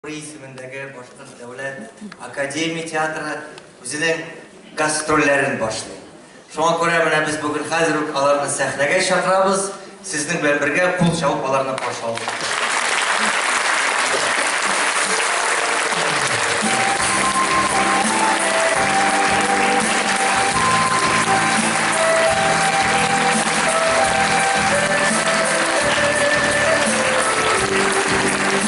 Бу исемендәге Башкорт дәүләт академия театры үзенең гастрольләрен башлый. Шуңа күрә менә без бүген хәзер үк аларны сәхнәгә чакырабыз. Сезнең белән бергә кул чабып аларны каршы алабыз.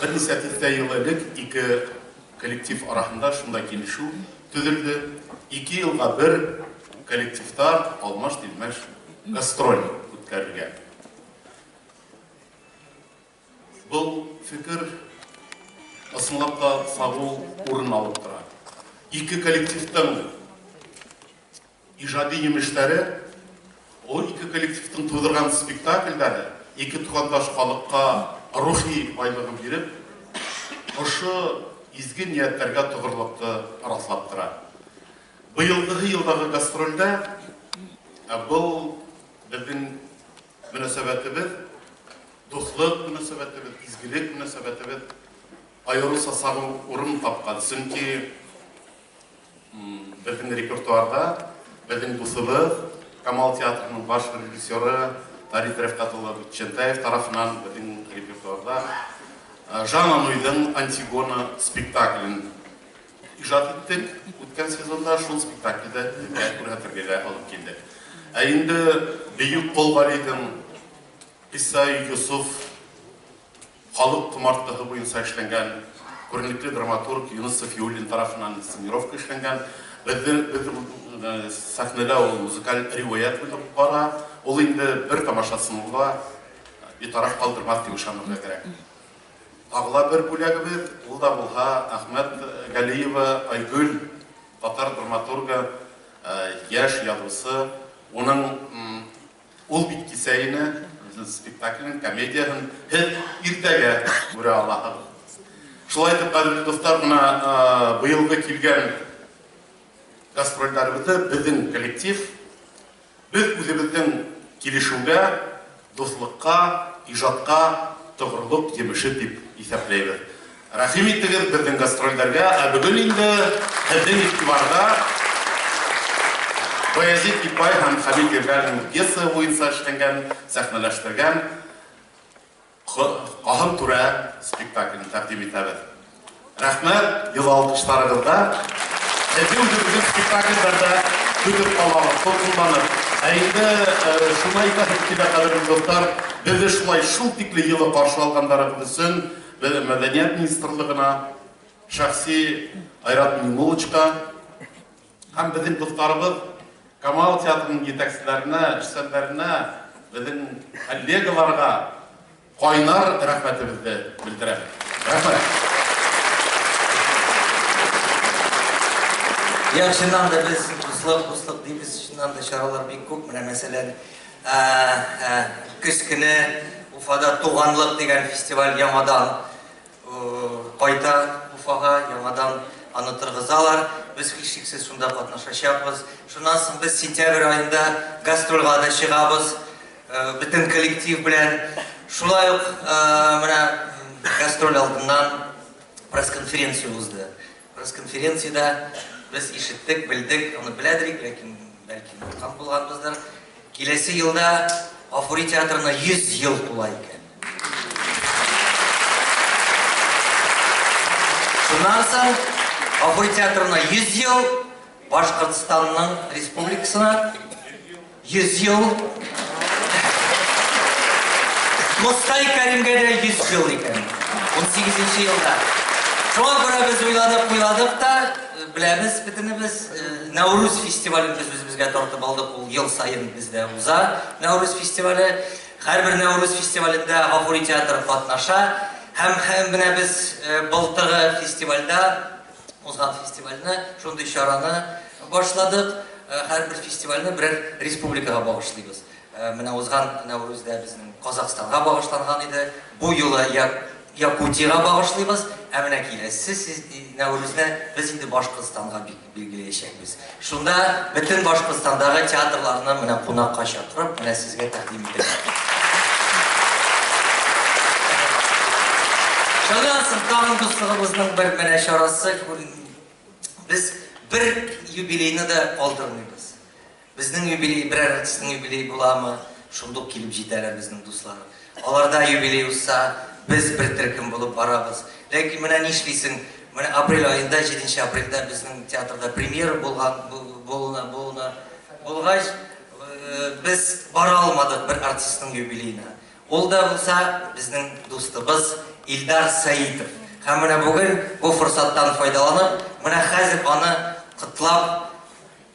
Берничә дистә ел элек ике коллектив арасында шундай килешү төзелде. Ике елга бер коллективта алмаш-тилмәш гастроль үткәрергә. Бу фикер ысынлап та сагу урын алып тора. Ике коллективтың Иҗади җимешләре, ул ике коллективтың тудырган спектакльләре ике тугандаш халыкка рухи байлыгын биреп, шушы изге ниятләргә тогырлыкны раслап тора. Быелгы елдагы гастрольдә был безнең мөнәсәбәтебез, дуслык мөнәсәбәтебез, изгелек мөнәсәбәтебез аеруча сагу урын тапкан, чөнки Безнең репертуарда безнең дусыбыз, Камал театрының баш режиссеры Тариф Рәфкатуллов Чентаев тарафынан безнең репертуарда Жан Ануйдың Антигона спектаклен иҗат иттек. Үткән сезонда шул спектакльдә безгә күрһәтергә алып килде. Ә инде Бөек Колгалидың Иса Юсуф Халык комартлыгы буенча эшләнгән, күренекле драматург Юныс Сафиуллин тарафыннан инсценировка эшләнгән. Безне без сәхнәдә ул музыкаль риваять булып бара. Ул инде бер тамашасын була, битараф калдырмас дип ышанырга кирәк. Тагыла бер бүләгебез, ул да булһа Әхмәт Галиева Айгөл, татар драматургы, яшь язучы. Уның Ул бит кисәгене, безнең спектакльнең, комедиянең һез иртәгә күрә алаһыз. Шулай итеп, кадерле дуслар, менә быелгы килгән гастрольләребезне безнең коллектив без үзебезнең килешүгә, дуслыкка, иҗатка тотрыклык җимеше дип исәпләйбез. Рәхим итегез безнең гастрольләргә, ә бүген инде һезнең игътибарда Баязит Ипай һәм Хәмит Ирләрнең пьесаһы буенча эшләнгән, сәхнәләштергән Каһым түрә спектаклен тәкъдим итәбез. Рәхмәт, йылы алкышларыгызда һезне үзебезнең спектакльләрдә көтеп калабыз, дулкынланып. Ә инде шуны әйтәсем килә, кадерле дуслар, безне шулай шул тикле йылы каршы алганнарыгыз өчен Бер мәдәният министрлыгына, шәхси Айрат Миңнуллочка һәм безнең дусларыбыз Камал театрының җитәкчеләренә, эшчәннәренә, безнең коллегаларга кайнар рәхмәтебезне белдерәм. Рәхмәт. Як, чыннан да без дуслык, дуслык дибез, чыннан да чаралар бик күп, менә мәсәлән, Ә-ә-ә, көз көне Уфада Туганлык дигән фестиваль яңадан кайта Уфага, яңадан аны торгызалар. Без һичшиксез шунда катнашачакбыз. Шуннан соң без сентябрь аенда гастрольга да чыгабыз бөтен коллектив белән. Шулай ук менә гастроль алдыннан пресс-конференция узды. Пресс-конференциядә без ишеттек, белдек, аны беләдер идек, ләкин Бәлки нуркам булганбыздыр. Киләсе елда Гафури театрына 100 ел тула икән. Шуннан соң Гафури театрына 100 ел, Башкортстанның республикасына 100 ел. Мостай Кәримгә дә 100 ел икән. 18 елда. Шуңа күрә без уйланып уйладык та, Беләбез бөтенебез, Нәүрүз фестивален без үзебезгә тартып алдык, ул ел саен бездә уза Нәүрүз фестивале. Һәрбер Нәүрүз фестивалендә Гафури театры катнаша һәм һәм менә без былтыргы фестивальдә, узган фестивальне, шундый чараны башладык, һәрбер фестивальне берәр республикага багышлыйбыз. Менә узган Нәүрүз дә безнең Казахстанга багышланган иде. Бу юлы Якутиягә багышлыйбыз. Ә менә киләсе Нәүрүзне без инде Башкортстанга билгеләячәкбез. Шунда бөтен Башкортстандагы театрларны менә кунакка чакырып, менә сезгә тәкъдим итәчәкбез. Шуннан соң тагын дуслыгыбызның бер менә чарасы, без бер юбилейны да калдырмыйбыз. Безнең юбилей берәр артистның юбилее буламы, шундук килеп җитәр әле безнең дуслар. Аларда юбилей узса, без бер төркем булып барабыз. Ләкин менә нишлисең, менә апрель аенда, җиденче апрельдә безнең театрда премьера булган, булуына, булуына, булгач, без бара алмадык бер артистның юбилеена. Ул да булса, безнең дустыбыз Илдар Сәитов. Һәм менә бүген бу форсаттан файдаланып, менә хәзер аны котлап,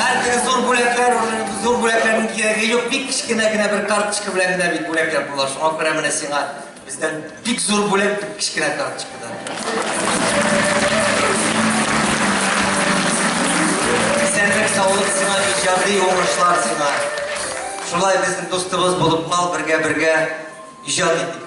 Әлбәттә, зур бүләкләр, зур бүләкләрнең кирәге юк, бик кечкенә генә бер карточка белән генә бит бүләкләр була. Шуңа күрә менә сиңа бездән бик зур бүләк бик кечкенә карточкадан. Исәнлек, саулык сиңа, иҗади уңышлар сиңа. Шулай безнең дустыбыз булып кал, бергә-бергә иҗат итик.